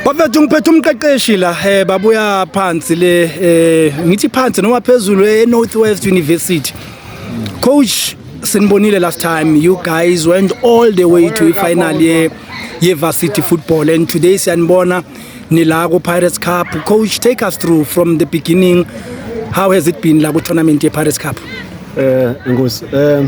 Bafethu ngiphethe umqeqeshi la eh babuya phansi le eh ngithi phansi noma phezulu e North West University. Coach sinibonile last time you guys went all the way to final ye ye varsity football and today siyanibona nila ku Pirates Cup. Coach take us through from the beginning how has it been la ku tournament ye Pirates Cup? Eh ngosi eh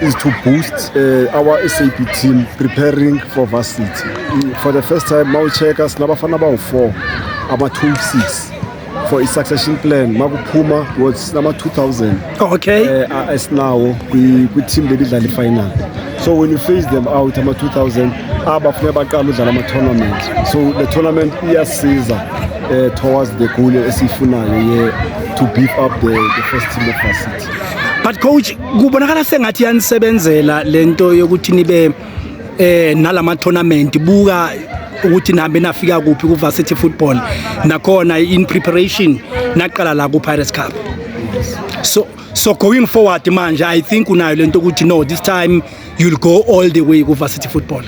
is to boost uh, our SAP team preparing for varsity. For the first time, mawucheka sinabafana bawu-4 ama-26 for a succession plan makuphuma was number 2000 okay uh, eh, esinawo kwi-team belidlala i-final so when you face them out ama-2000 abafuneka baqala udlala ama-tournament so the tournament iyasiza uh, towards the goal esiyifunayo ye to beef up the, the first team of us but coach kubonakala sengathi yanisebenzela lento yokuthi nibe eh nalama tournament buka ukuthi nihambe nafika kuphi ku varsity football nakhona in preparation naqala la ku Pirates Cup so so going forward manje i think unayo lento ukuthi no this time you'll go all the way kuvarsity football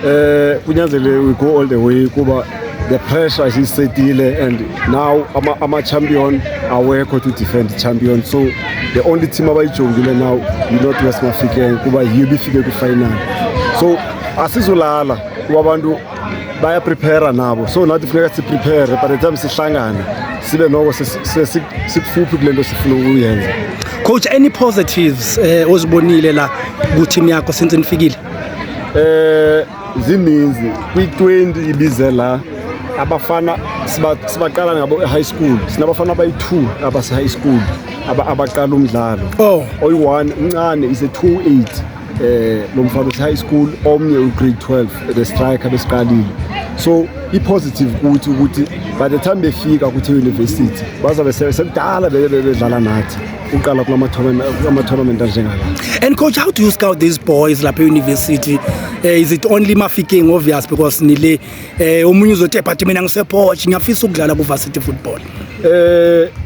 eh kunyanzele we go all the way kuba the pressure is isetile and now ama, ama champion awekho to defend the champion so the only team abayijongile now you not west mafikeng kuba yiyo ibifike kwi-final so asizolala kuba abantu bayaprepare nabo so nathi funeka siprepare by the time sihlangane sibe noko sikufuphi kule nto sifuna ukuyenza coach any positives um ozibonile la kuteam yakho since nifikile um zininzi kwi-20 ibize la abafana sibaqala ngabo e-high school sinabafana abayi-two abase-high school abaqala umdlalo oh. oyi-one uncane is a two eight eh lo mfana uthi high school omnye ugrade 12 the striker besiqalile so i-positive kuthi ukuthi by the time befika kuthi university bazabe sekudala bedlala nathi uqala kulama-tournament anjengala and coach how do you scout these boys lapha e-university uh, is it only mafiking obvious because nile um omunye uzothi ebhathi mina ngisepoch ngiyafisa ukudlala ku-varsity football um uh,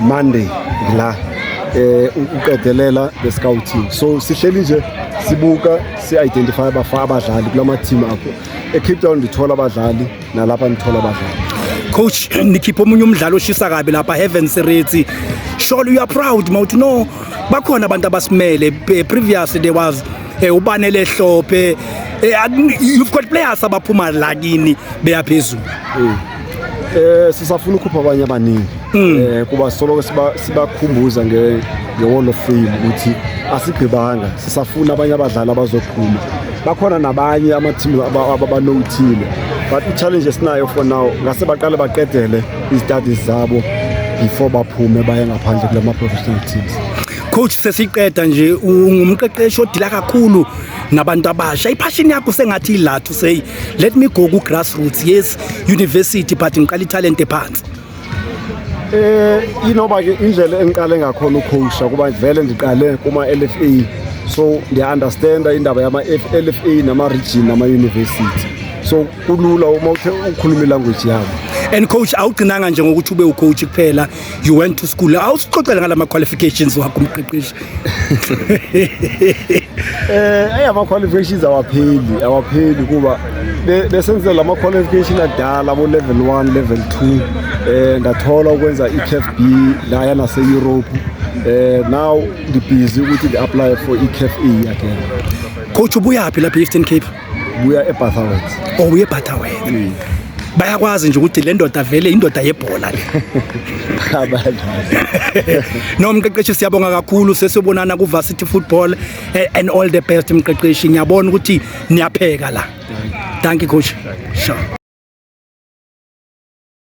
Monday la eh uqedelela the scouting so sihleli nje sibuka si-identify abafa abadlali kula mathimu akho ecape town ndithola abadlali nalapha ndithola abadlali coach nikhipha omunye umdlali oshisa kabi lapha heaven sereti surely you are proud mawuthi no bakhona abantu abasimele previously there was eh, ubanele hlophe eh, you've got players abaphuma lakini beyaphezulu mm. Eh sisafuna ukukhupha abanye abaningi hmm. eh kuba solo sibakhumbuza nge nge-wall of fame ukuthi asigqibanga sisafuna abanye abadlali abazophuma bakhona nabanye amathimu abanowuthile but i-challenge esinayo for now ngase baqale baqedele izitadis zabo before baphume baye ngaphandle kula ma-professional teams coach sesiqeda nje ungumqeqeshi odila kakhulu nabantu abasha iphashini yakho sengathi ilathu say let me go ku-grassroots yes university but ngiqala italent ephansi eh inoba ke indlela engiqale ngakhona ukhosha kuba vele ndiqale kuma LFA so ndiya understand indaba yama LFA nama region nama university so kulula uma uthe ukhuluma language yabo and coach awugcinanga nje ngokuthi ube ucoach kuphela you went to school awusixoxele ngala ma qualifications wakho umqeqeshi eh ayi ama qualifications awapheli awapheli kuba besenze lama qualification adala bo level 1 level 2 eh ndathola ukwenza iCAF B la yana se Europe eh now ngibhizi ukuthi ngi apply for iCAF A again coach ubuyaphi lapha eEastern Cape buya eBatterworth oh uye Butterworth Mm. bayakwazi nje ukuthi le ndoda vele indoda yebhola le no mqeqeshi siyabonga kakhulu sesiyobonana ku-varsity football eh, and all the best mqeqeshi ngiyabona ukuthi niyapheka la danki coach sure